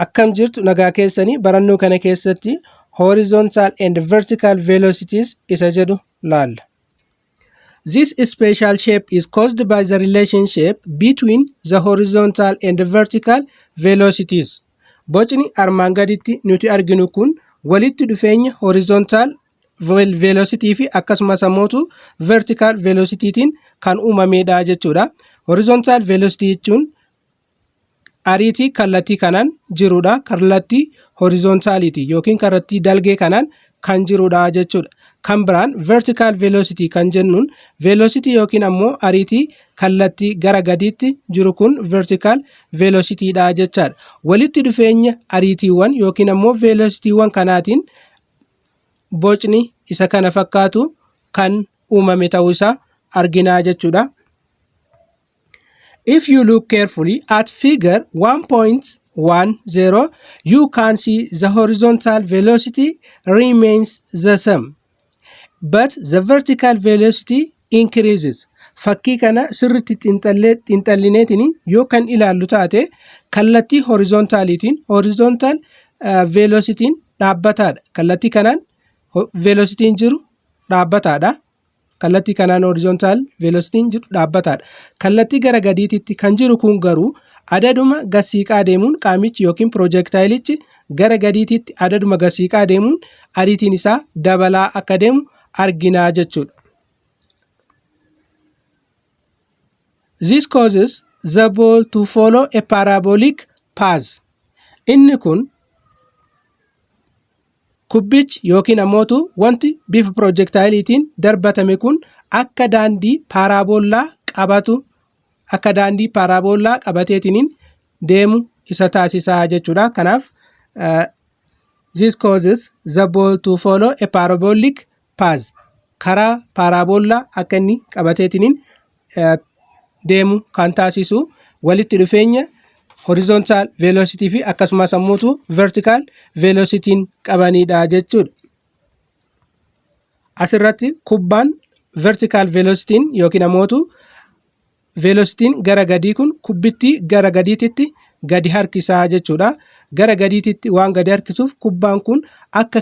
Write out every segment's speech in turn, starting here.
Akkam jirtu nagaa keessanii barannoo kana keessatti horizontal and vertical velocities isa jedhu laalla. This special shape is caused by the relationship between the horizontal and vertical velocities. Bocni armaan gaditti nuti arginu kun walitti dhufeenya horizontal velocity fi akkasumas ammootu vertical velocity tiin kan uumameedha jechuudha. Horizontal velocity jechuun ariitii kallattii kanaan jirudha. Kallattii horizontaaliiti yookiin kallattii dalgee kanaan kan jirudha jechuudha. Kan biraan vertical velocity kan jennuun velocity yookiin ammoo ariitii kallattii gara gadiitti jiru kun vertical velocity dha jechaadha. Walitti dhufeenya ariitiiwwan yookiin ammoo velocity-wwan kanaatiin bocni isa kana fakkaatu kan uumame ta'uu isaa arginaa jechuudha. If you look carefully at figure 1.10, you can see the horizontal velocity remains the same, but the vertical velocity increases. Fakkii kana sirritti xinxallineetiin yoo kan ilaallu taate kallattii horizontaaliitiin horizontal velocity'n dhaabbataadha. Kallattii kanaan velocitiin jiru dhaabbataadha. Kallattii kanaan horizontal velocitiin jiru dhaabbataadha. Kallattii gara gadiititti kan jiru kun garuu adaduma gasiiqaa deemuun qaamichi yookiin piroojeektaayilichi gara gadiititti adaduma gasiiqaa deemuun ariitiin isaa dabalaa akka deemu arginaa jechuudha. This causes the ball to follow a parabolic path. Inni kun kubbichi yookiin ammootu wanti bifa piroojektaayiiliitiin darbatame kun akka daandii paaraaboolaa qabatu akka daandii paaraaboolaa qabateetiin deemu isa taasisaa jechuudha. Kanaaf this causes the ball to follow a parabolic paaz karaa paaraaboollaa akka inni qabateetiniin deemu kan taasisu walitti dhufeenya horizontal velocity fi akkasumas ammoo vertical velocity qabanidha jechuudha. Asirratti kubbaan vertical velocity yookiin ammoo velocity gara gadii kun kubbittii gara gadiititti gadi harkisaa jechuudha. Gara gadiititti waan gadi harkisuuf kubbaan kun akka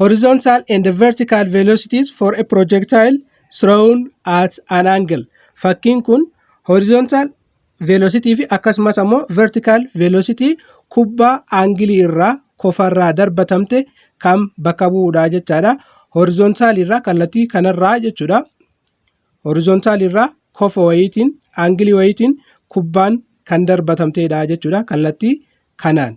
horizontal and vertical velocities for a projectile thrown at an angle fakkiin kun horizontal velocity fi akkasumas ammoo vertical velocity kubbaa aangilii irraa kofarraa darbatamte kan bakka bu'uudha jechaadha horizontal irraa kallattii kanarraa jechuudha horizontal irraa kofa wayiitiin aangilii wayiitiin kubbaan kan darbatamteedha jechuudha kallattii kanaan.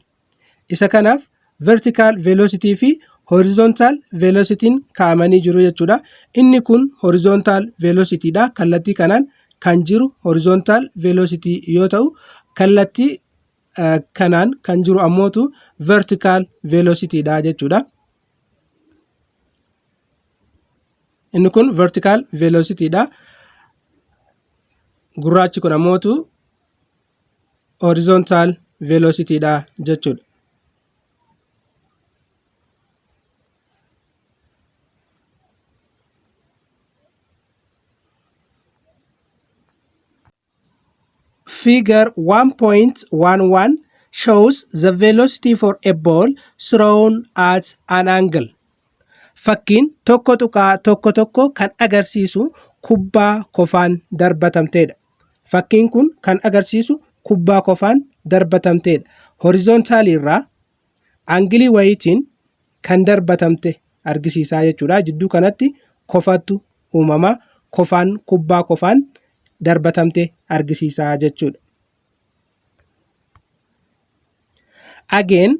Isa kanaaf vertical velocity fi horizontal velocity kaa'amanii jiru jechuudha. Inni kun horizontal velocity dha. Kallattii kanaan kan jiru horizontal velocity yoo ta'u kallattii kanaan kan jiru ammootu vertical velocity dha jechuudha. Inni kun vertical velocity dha. Gurraachi kun ammootu horizontal velocity dha jechuudha. Figure 1.11 shows the velocity for a ball thrown at an angle. Fakkiin tokko tuqaa tokko tokko kan agarsiisu kubbaa kofaan darbatamteedha. Fakkiin kun kan agarsiisu kubbaa kofaan darbatamteedha. Horizontaalii irraa angilii wayiitiin kan darbatamte argisiisaa jechuudha. Jidduu kanatti kofattu uumama. Kofaan kubbaa kofaan darbatamte argisiisaa jechuudha. Again,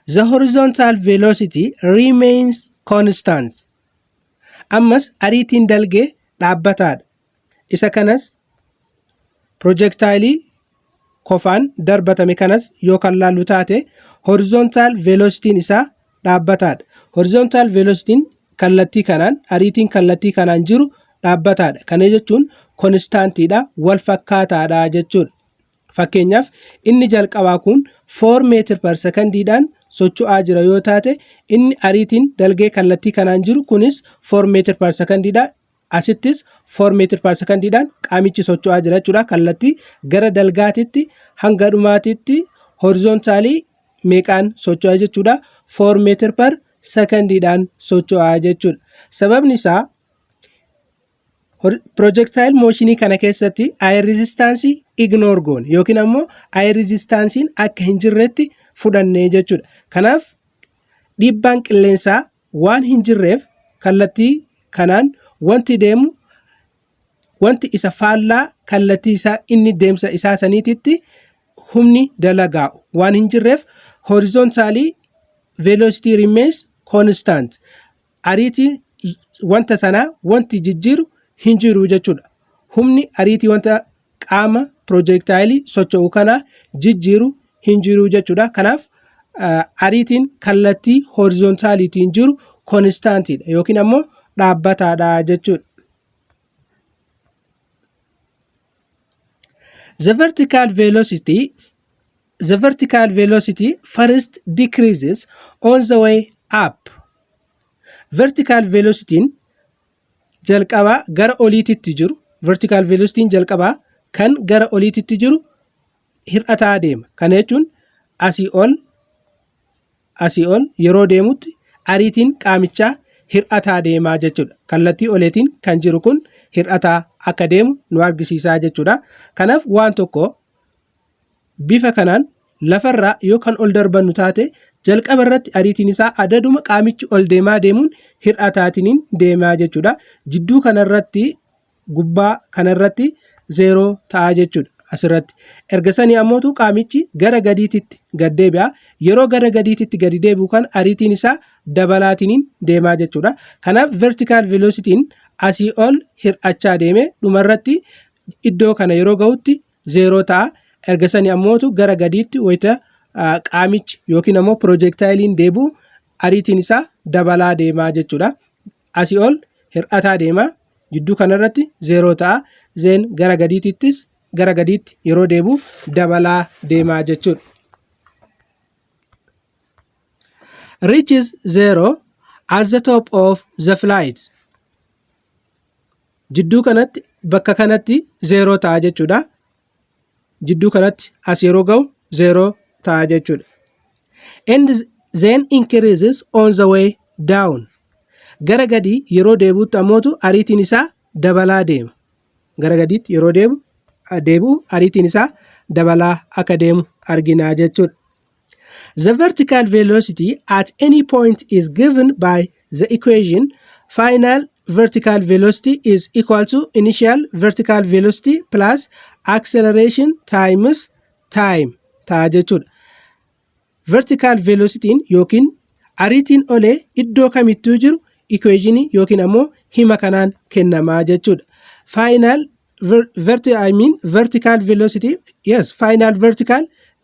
the horizontal velocity remains constant. Ammas ariitiin dalgee dhaabbataadha. Isa kanas pirojektaayilii kofaan darbatame kanas yoo kan laallu taate horizontaal veelositiin isaa dhaabbataadha. Horizontaal veelositiin kallattii kanaan ariitiin kallattii kanaan jiru dhaabbataadha. Kana jechuun konistaantiidha wal fakkaataadha jechuudha. Fakkeenyaaf inni jalqabaa kun 4 meetir per sekondiidhaan socho'aa jira yoo taate inni ariitiin dalgee kallattii kanaan jiru kunis 4 meetir per sekondiidha. Asittis 4 meetirparsakandiidhaan qaamichi socho'aa jira jechuudha. Kallattii gara dalgaatitti hanga dhumaatitti horizontaalii meeqaan socho'aa jechuudha. 4 meetir par sekandiidhaan socho'aa jechuudha. Sababni isaa pirojektaayil mooshinii kana keessatti aayir riizistaansii ignoor goone yookiin ammoo aayir riizistaansiin akka hin jirretti fudhanne jechuudha. Kanaaf dhiibbaan qilleensaa waan hin jirreef kallattii kanaan wanti deemu wanti isa faallaa kallattii isaa inni deemsa isaa saniititti humni dalagaa'u waan hin jirreef horizontaalii velocity remains constant ariitii wanta sanaa wanti jijjiiru hin jiru jechuudha. Humni ariitii wanta qaama piroojeektaayilii socho'u kanaa jijjiiru hin jiru jechuudha. Kanaaf ariitiin kallattii horizontaaliitiin jiru konistaantiidha yookiin ammoo dhaabbataadha jechuudha. The vertical velocity the vertical velocity first decreases on the way up. Vertical velocity'n jalqabaa gara oliititti jiru vertical velocity jalqabaa kan gara oliititti jiru hir'ataa deema. Kana jechuun asii ol asii ol yeroo deemutti ariitiin qaamichaa hir'ataa deemaa jechuudha. Kallattii oleetiin kan jiru kun hir'ataa akka deemu nu argisiisaa jechuudha. Kanaaf waan tokko Bifa kanaan, lafarraa yoo kan ol darbannu taate, jalqaba irratti ariitiin isaa adaduma qaamichi ol deemaa deemuun hir'ataatiniin deemaa jechuudha. Jidduu kanarratti gubbaa kanarratti zeeroo ta'a jechuudha asirratti. Erga sanii ammootu qaamichi gara gadiititti gad deebi'a. Yeroo gara gadiititti gadi deebi'u kan ariitiin isaa dabalaatiniin deemaa jechuudha. Kanaaf vertical velocity'n asii ol hir'achaa deeme dhumarratti iddoo kana yeroo ga'utti zeeroo ta'a. Erga sanii ammootu gara gadiitti wayita ah, qaamichi yookiin ammoo piroojeektaayiliin deebi'u ariitiin isaa dabalaa deemaa jechuudha. Asii ol hir'ataa deema. Jidduu kanarratti zeeroo ta'a. Zeen gara gadiitittis gara gadiitti yeroo deebi'u dabalaa deemaa jechuudha. Reaches zero at the top of the flight. jidduu kanatti bakka kanatti zeeroo ta'a jechuudha. Jidduu kanatti as yeroo ga'u zeeroo ta'a jechuudha. And then increases on the way down. Gara gadii yeroo deebi'utti ammootu ariitiin isaa dabalaa deema. Gara gadiitti yeroo deebi'u ariitiin isaa dabalaa akka deemu arginaa jechuudha. The vertical velocity at any point is given by the equation final vertical velocity is equal to initial vertical velocity plus acceleration times time ta'a jechuudha. Vertical velocityin yookiin ariitiin olee iddoo kamittuu jiru equationii yookiin ammoo hima kanaan kennamaa jechuudha. Final ver- verti I mean vertical velocity yes final vertical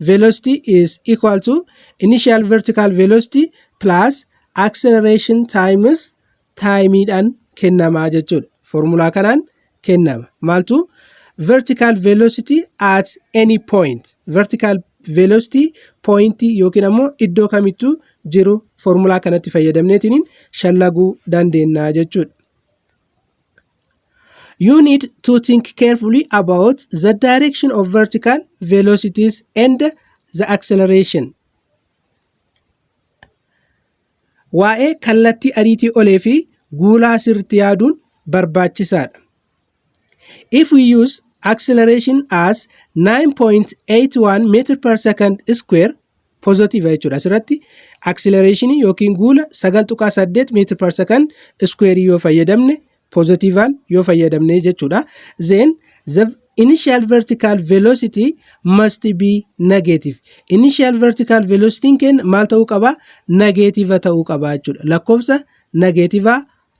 velocity is equal to initial vertical velocity plus acceleration times time dhaan kennama jechuudha formulaa kanaan kennama maaltu vertical velocity at any point vertical velocity point yookiin ammoo iddoo kamittuu jiru formulaa kanatti fayyadamneetiin shallaguu dandeenya jechuudha You need to think carefully about the direction of vertical velocities and the acceleration. Waa'ee kallattii ariitii olee fi guulaa sirriitti yaaduun barbaachisaadha. If we use acceleration as 9.81 meter per second square positive jechuudha asirratti acceleration yookiin guula 9.8 meter per second square yoo fayyadamne positivean yoo fayyadamne jechuudha then the initial vertical velocity must be negative initial vertical velocity keenya maal ta'uu qaba negative ta'uu qaba jechuudha lakkoofsa negative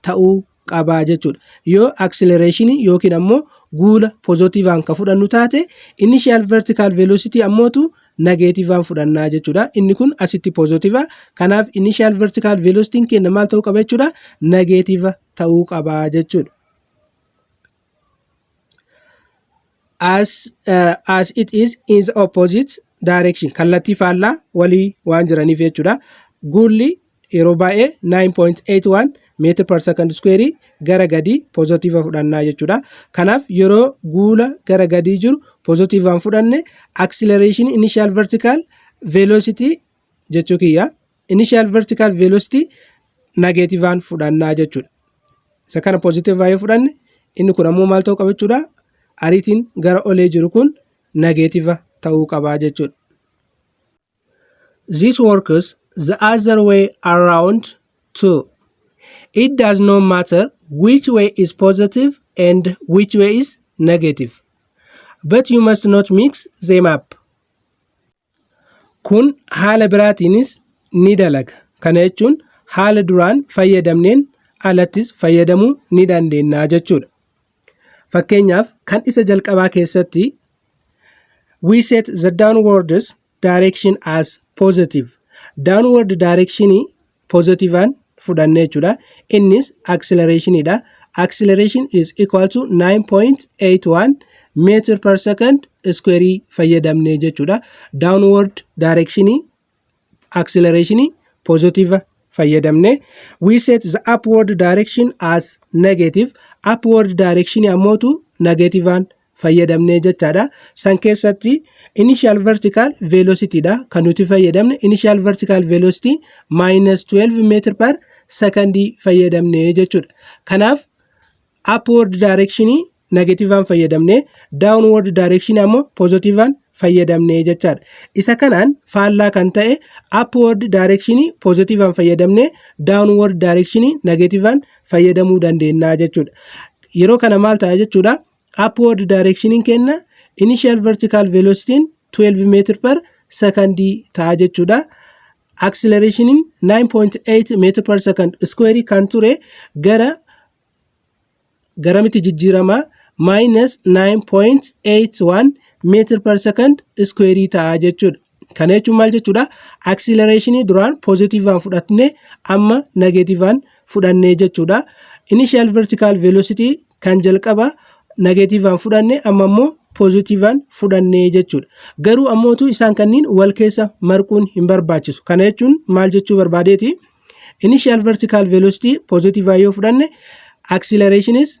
ta'uu qaba jechuudha. Yoo acceleration yookiin ammoo guula pozitiivaan ka fudhannu taate initial vertical velocity ammootu nageetiivaan fudhannaa jechuudha. Inni kun asitti pozitiiva. Kanaaf initial vertical velocity keenya maal ta'uu qaba jechuudha? Nageetiiva ta'uu qaba jechuudha. as uh, as it is in the opposite direction kallattii faallaa walii waan jiraniif jechuudha guulli yeroo baay'ee 9.81 meetir per second square gara gadii pozitiiva fudhannaa jechuudha kanaaf yeroo guula gara gadii jiru pozitiivaan fudhanne acceleration initial vertical velocity jechuu kiyya initial vertical velocity nageetivaan fudhannaa jechuudha. Isa kana poozitiivaa yoo fudhanne inni kun ammoo maal ta'uu qaba jechuudha ariitiin gara olee jiru kun nageetiva ta'uu qabaa jechuudha. This works the other way around too. It does not matter which way is positive and which way is negative. But you must not mix them up. Kun haala biraatiinis ni dalaga. Kana jechuun haala duraan fayyadamneen alattis fayyadamuu ni dandeenya jechuudha. Fakkeenyaaf kan isa jalqabaa keessatti we set the downwards direction as positive. Downward direction pozitiivaan fudhanne jechuudha. Innis acceleratioonidha. Acceleration is equal to 9.81 meter per second square fayyadamne jechuudha. Downward direction acceleration positive fayyadamne. We set the upward direction as negative. Upward direction ammootu negativean fayyadamne jechaadha. San keessatti initial vertical velocity dha kan nuti fayyadamne initial vertical velocity minus 12 meter per second fayyadamne jechuudha. Kanaaf upward direction negativean fayyadamne downward direction ammoo positivean fayyadamne jechaadha. Isa kanaan faallaa kan ta'e upward direction positivean fayyadamne downward direction negativean fayyadamuu dandeenya jechuudha. Yeroo kana maal ta'a jechuudha? upward direction kenna initial vertical velocity 12 meter per second ta'a jechuudha. acceleration 9.8 meter per second square kan ture gara garamitti jijjiirama minus 9.81 meter per second square ta'a jechuudha. Kana jechuun maal jechuudha? Aksilereeshinii duraan poozitiivaan fudhatne amma nageetiivaan fudhannee jechuudha. Initial vertical velocity kan jalqaba nageetiivaan fudhanne amma immoo poozitiivaan fudhannee jechuudha. Garuu ammootu isaan kanniin wal keessa marquun hin barbaachisu. Kana jechuun maal jechuu barbaadeeti? Initial vertical velocity poozitiivaan yoo fudhanne aksilereeshiniis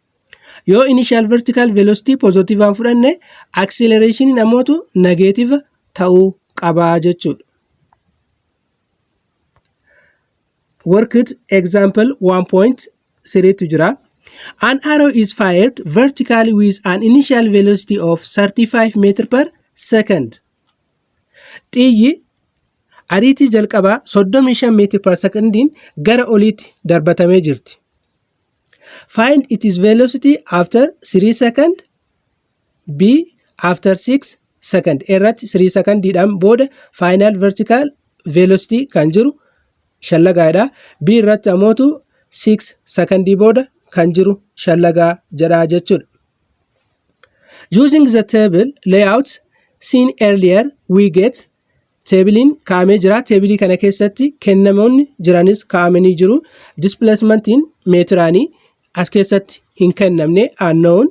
Yoo initial vertical velocity positivaan fudhanne accelerationin ammootu negative ta'uu qabaa jechuudha. Worked example 1.3 tu jira. An arrow is fired vertically with an initial velocity of 35 meter per second. Xiyyi ariitii jalqabaa 35 meetir per sekondiin gara oliitti darbatamee jirti. Find its velocity after 3 second B after 6 second irratti 3 secondiidhaan booda final vertical velocity kan jiru shallagaadha. B irratti amootu 6 secondii booda kan jiru shallagaa jedha jechuudha. Using the table layout seen earlier we get Teebiliin kaa'amee jira. Teebilii kana keessatti kennamoonni jiranis kaa'amanii jiru. Displacementi'n meetiraanii as keessatti hin kennamne unknown.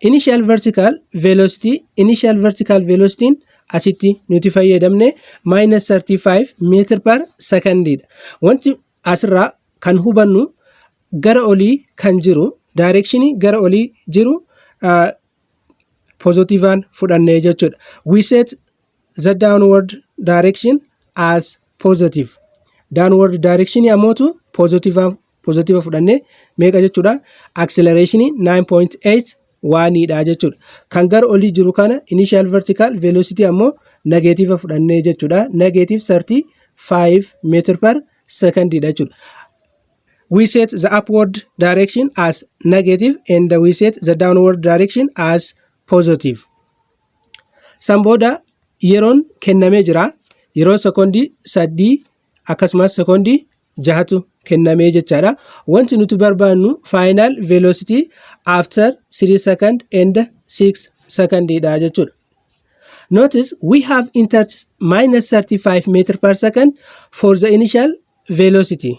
Initial vertical velocity initial vertical velocity'n asitti nuti fayyadamne minus 35 meetir per secondiidha. Wanti asirraa kan hubannu gara olii kan jiru directionii gara olii jiru uh, pozitiivaan fudhannee jechuudha. We set the downward direction as positive downward direction ammootu positive positive fudhannee meeqa jechuudha acceleration 9.8 waaniidha jechuudha kan gara olii jiru kana initial vertical velocity ammoo negative fudhannee jechuudha negative 35 meter per second dha jechuudha we set the upward direction as negative and we set the downward direction as positive San booda yeroon kennamee jira. Yeroo sekoondii sadii akkasumas sekoondii jahatu kennamee jechaadha. Wanti nuti barbaannu faayinaal veeloositii after 3 second and 6 second dha jechuudha. Notice we have entered minus 35 meter per second for the initial velocity.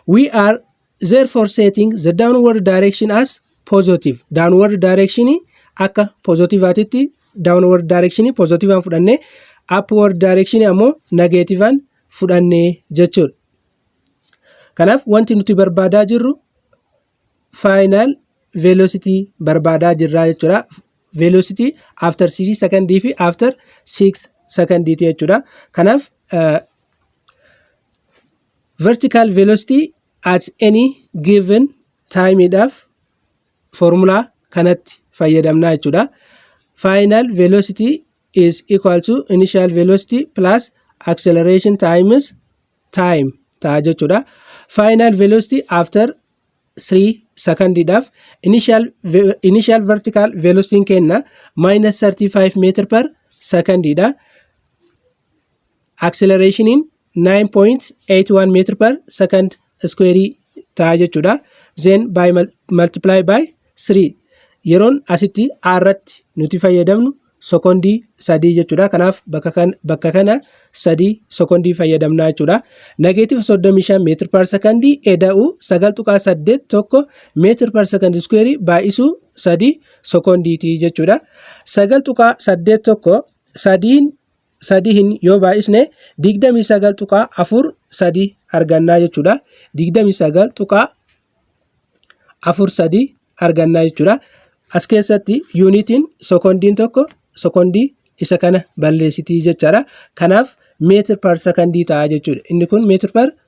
we are therefore setting the downward direction as positive downward direction akka positivaatitti downward direction positivaan fudhannee upward direction ammoo negativean fudhannee jechuudha. Kanaaf wanti nuti barbaadaa jirru final velocity barbaadaa jirraa jechuudha. Velocity after 3 secondii fi after 6 secondiiti jechuudha. Kanaaf Vertical velocity at any given time dhaaf formula kanatti fayyadamna jechuudha. Final velocity is equal to initial velocity plus acceleration times time ta'a jechuudha. Final velocity after 3 second dhaaf initial, initial vertical velocity kenna minus 35 meter per second dha. Acceleration 9.81 meter per second square ta'a jechuudha. Then by multiply by 3 yeroon asitti a irratti nuti fayyadamnu sekondii sadii jechuudha. Kanaaf bakka kana sadii sekondii fayyadamnaa jechuudha. Negeetif 35 meetir per sekondii eda'u 9.81 meetir per sekondii iskuweerii baay'isuu sadii sekondiiti jechuudha. 9.81 sadiin sadihin yoo baay'isne 29.43 argannaa jechuudha. 29.43 argannaa jechuudha. As keessatti yuunitiin sekondiin tokko sekondii isa kana balleessitii jechaadha. Kanaaf meetir par sekondii ta'a jechuudha. Inni kun meetir par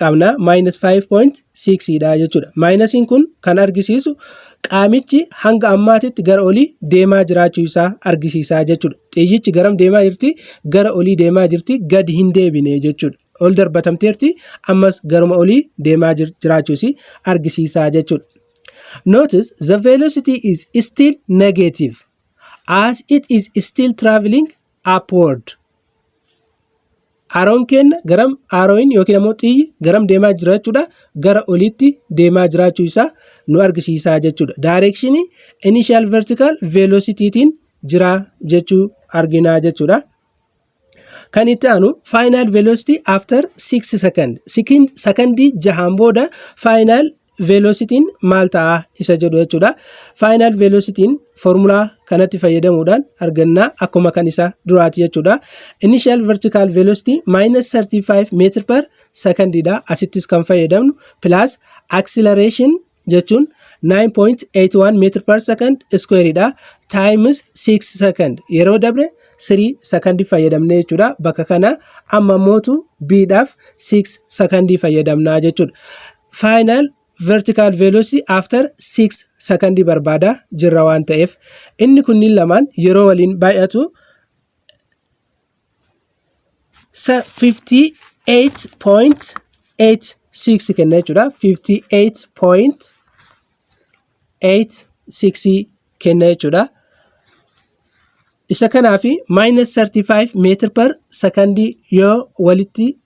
qabna minus 5.6 dha jechuudha. Maayinasiin kun kan argisiisu qaamichi hanga ammaatitti gara olii deemaa jiraachuu isaa argisiisaa jechuudha. Xiyyichi garam deemaa jirti? Gara olii deemaa jirti, gadi hin deebine jechuudha. Ol darbatamteerti, ammas garuma olii deemaa jiraachuu isii argisiisaa jechuudha. Notice the velocity is still negative as it is still traveling upward aaroon keenya garam aaroon yookiin ammoo xiyyi garam deemaa jira jechuudha gara oliitti deemaa jiraachuu isaa nu argisiisaa jechuudha daayireekshinii initial vertical velocity tiin jira jechuu arginaa jechuudha. Kan itti aanu final velocity after 6 second. Sekondii jahaan booda final veelositiin maal ta'a isa jedhu jechuudha. Faayinaal veelositiin foormulaa kanatti fayyadamuudhaan argannaa akkuma kan isa duraati jechuudha. Initial vertical velocity minus 35 meetir per secondiidha. Asittis kan fayyadamnu plus acceleration jechuun 9.81 meetir per second squareidha. Times 6 second yeroo dabre 3 second fayyadamne jechuudha. Bakka kana amma mootu B dhaaf 6 second fayyadamna jechuudha. final vertical velocity after 6 sakandii barbaada jirra waan ta'eef inni kunniin lamaan yeroo waliin baay'atu 58.86 kenna jechuudha 58.86 kenna jechuudha isa kanaafi minus 35 meetir per sakandii yoo walitti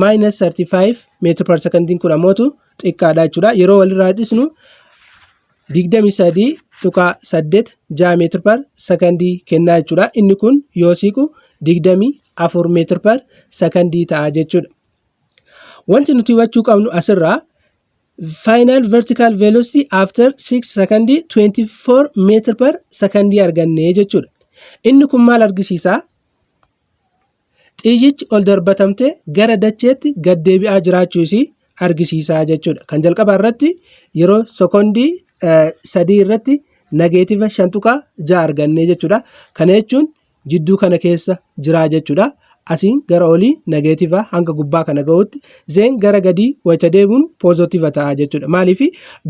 Maayinas 35 meetira par sekondiin kun ammootu xiqqaadha jechuudha. Yeroo walirraa dhisnu 23.8 ja'a meetira par sekondii kennaa jechuudha. Inni kun yoo siiqu 24 meetira par sekondii ta'a jechuudha. Wanti nuti hubachuu qabnu asirraa final vertical velocity after 6 secondii 24 meetira par sekondii arganne jechuudha. Inni kun maal argisiisaa? Xiyyichi ol darbatamtee gara dacheetti gad deebi'aa jiraachuu isii argisiisaa jechuudha. Kan jalqabaa irratti yeroo sekondii sadii irratti nageetiva shan tuqaa ja'a argannee jechuudha. Kana jechuun jidduu kana keessa jiraa jechuudha. Asiin gara olii nageetiva hanga gubbaa kana ga'utti zeen gara gadii wayita deebiinu poozotiva ta'a jechuudha. Maaliif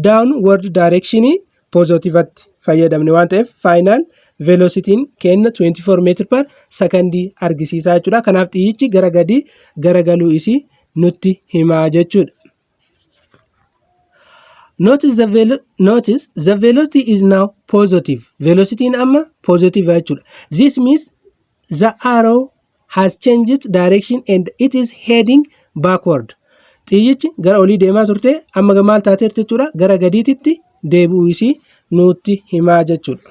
daawun wardi daayireekshinii pozootivatti fayyadamne waan ta'eef faayinaal veelositiin kenna 24 meetir par sakandii argisiisaa jechuudha. Kanaaf xiyyichi gara gadii garagaluu isii nutti himaa jechuudha. Notice the, velo notice the velocity is now positive. Velocitiin amma positive jechuudha. This means The arrow has changed direction and it is heading backward. Xiyyichi gara olii deemaa turte amma ga- maal taateerti jechuudha gara gadiititti deebi'uu isii nutti himaa jechuudha.